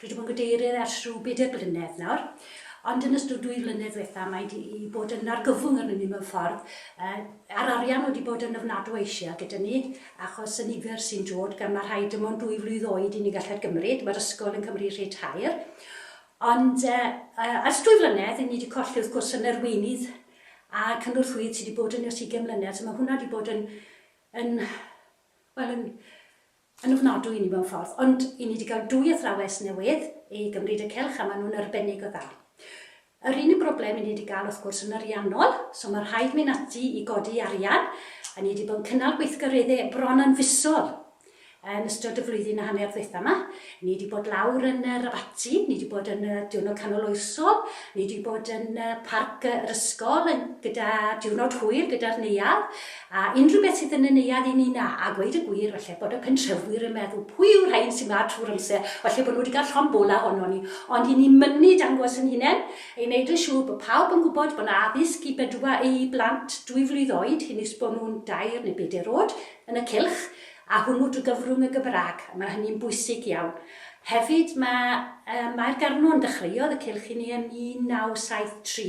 Dwi 'di bod yn gadeirydd ers rhyw bedair blynedd nawr, ond yn ystod dwy flynedd ddiwetha' mae 'di bod yn argyfwng arnyn ni mewn ffordd, yy a'r arian wedi bod yn ofnadw o ishal gyda ni achos y nifer sy'n dod gan ma' rhai dim ond dwy flwydd oed i ni gallu gymryd, mae'r ysgol yn cymryd rhei tair, ond yy yy ers dwy flynedd 'yn ni 'di colli wrth gwrs yn arweinydd a cynorthwyydd sy' 'di bod yn ni ers ugain mlynedd, so ma' hwnna 'di bod yn yn wel yn yn ofnadwy i ni mewn ffordd, ond i ni 'di gael dwy athrawes newydd i gymryd y cylch a maen nhw'n arbennig o dda. Yr unig broblem i ni 'di gael wrth gwrs yn ariannol, so mae rhaid mynd ati i godi arian, a ni 'di bod yn cynnal gweithgareddau bron yn fisol yn ystod y flwyddyn a hanner ddwytha yma. Ni wedi bod lawr yn yr abaty, ni wedi bod yn y diwrnod canol oesol, ni wedi bod yn y parc yr ysgol yn, gyda diwrnod hwyr gyda'r neuadd, A unrhyw beth sydd yn y neuadd i ni na, a gweud y gwir, falle bod y pentrefwyr yn meddwl, pwy yw'r rhain sy'n ma trwy'r amser, falle bod nhw wedi cael llond bola ohonon ni, ond i ni mynnu dangos yn hunain, i wneud yn siŵr bod pawb yn gwybod bod 'na addysg i bedwar i blant dwy flwydd oed hyn is bod nhw'n dair neu bedair oed yn y cylch, a hwnnw drwy gyfrwng y Gymraeg, a mae hynny'n bwysig iawn. Hefyd, mae, yy, Mair Garnwn, dechreuodd y cylch i ni yn 1973,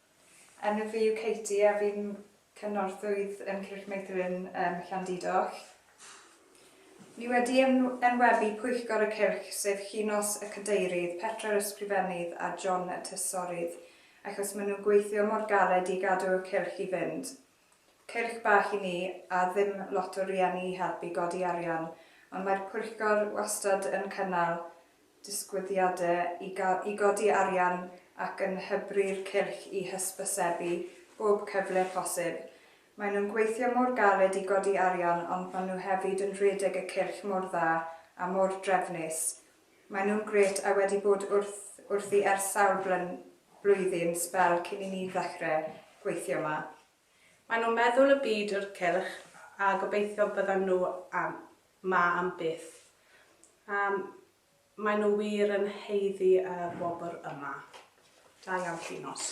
Yn y fi yw Katie a fi'n cynorthwyydd yn Cylch Meithrin ym Llandudoll. Ni wedi enwebu Pwyllgor y Cylch, sef Llinos y Cadeirydd, Petra yr Ysgrifennydd a John y Trysorydd, achos maen nhw'n gweithio mor galed i gadw y Cylch i fynd. Cylch bach i ni, a ddim lot o rieni i helpu godi arian, ond mae'r pwyllgor wastad yn cynnal disgwyliadau i gael i godi arian ac yn hybu'r cylch i hysbysebu bob cyfle posib. Maen nhw'n gweithio mor galed i godi arian ond maen nhw hefyd yn rhedeg y cylch mor dda a mor drefnus, Mae nhw'n grêt a wedi bod wrth wrthi ers sawl blyn, blwyddyn, sbel cyn i ni ddechre gweithio yma. Mae nhw'n meddwl y byd o'r cylch a gobeithio byddan nhw am 'ma am byth. A mae nhw wir yn haeddu y wobr yma. Da iawn Llinos.